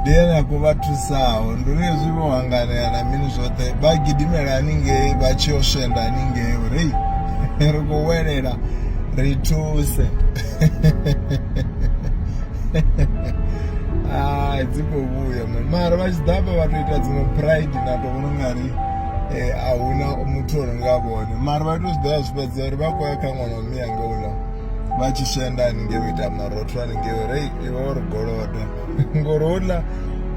Ndi ene a khou vha thusaho ndi uri hezwi vho hanganea na mini zwoṱhe vha gidimela haningei vha tshi yo swenda haningei uri hei ri khou welela ri thuse hai dzi khou vhuya mani mara vha tshi ḓafha vha to ita dziṅwe pride na to vhona ungari eh, a huna muthu o renga vhone mara vha to zwi ḓa zwi fhedza uri vha khou ya kha ṅwana wa miyanga uḽa vha tshi swenda haningei u ita marotho haningei uri iwe uri golodo ngori uḽa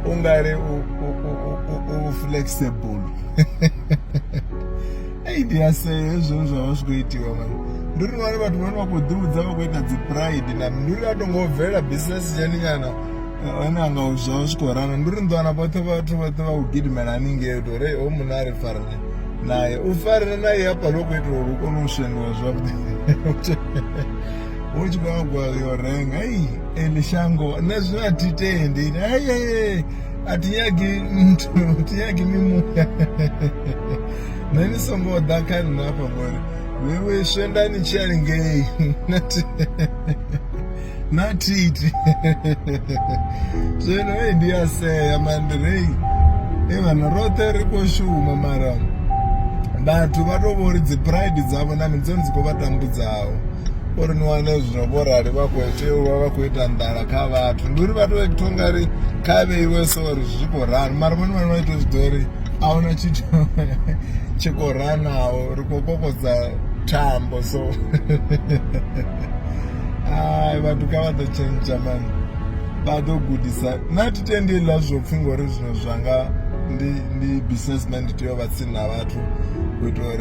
u nga ri u flexible ei ndi a sea hezwo zwa vha zwi khou itiwa mani ndi uri ngari vhathu vhane vha khou ḓivhudza vha khou ita dzi pride na ndi uri a to ngo bvela business tshani nyana one anga u zwa zwi khou rana ndi uri ndi wana vhoṱhe vhathu vhoṱhe vha u gidimela haningei u to uri ho munna a ri farane naye u farane naye hafha lo khou itela uri u kone u shengiwa zwavhuḓi hu tshi khou nyagwa yo renga ei eli shango nṋe zwino a thi tendi aye a thi nyagi nthu a thi nyagi mimuya nṋe ni songo ḓa kha nṋe afha ngori wewe swenda ni tshi ya lingei na thiti zwino ei ndi a sea mandirei e vhana roṱhe ri khou shuma mara vhathu vha tou vho ri dzi pride dzavho na mini dzone dzi khou vha tambudzaho uri ni wane zwino vho rali vha khou tea u vha vha khou ita nḓala kha vhathu ndi uri vhathu vha thonga ri kha vheiwe so uri zwi khou rali mara vhone vhane vha ita zwi ḓo uri a huna tshithu tshi khou ranaho ri khou kokodza thambo so ai vhathu kha vha ḓo tshentsha mani vha ḓo gudisa na thi tendi ḽa zwo pfhi ngori zwino zwanga ndi ndi businessman ndi tea u vha tsini na vhathu u itela uri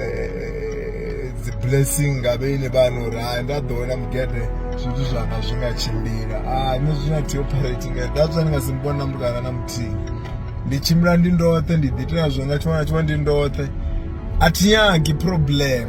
eh, dzi blessing nga vhene vhana uri hai nda ḓo wena mugede zwithu zwanga zwi nga tshimbila ah, nṋe zwi na theoperate nga that's why ndi nga si mbona na muthu ana na muthihi ndi tshimbila ndi ndoṱhe ndi ḓitela zwo nga tshiṅwe na tshiṅwe ndi ndoṱhe a thi nyagi problem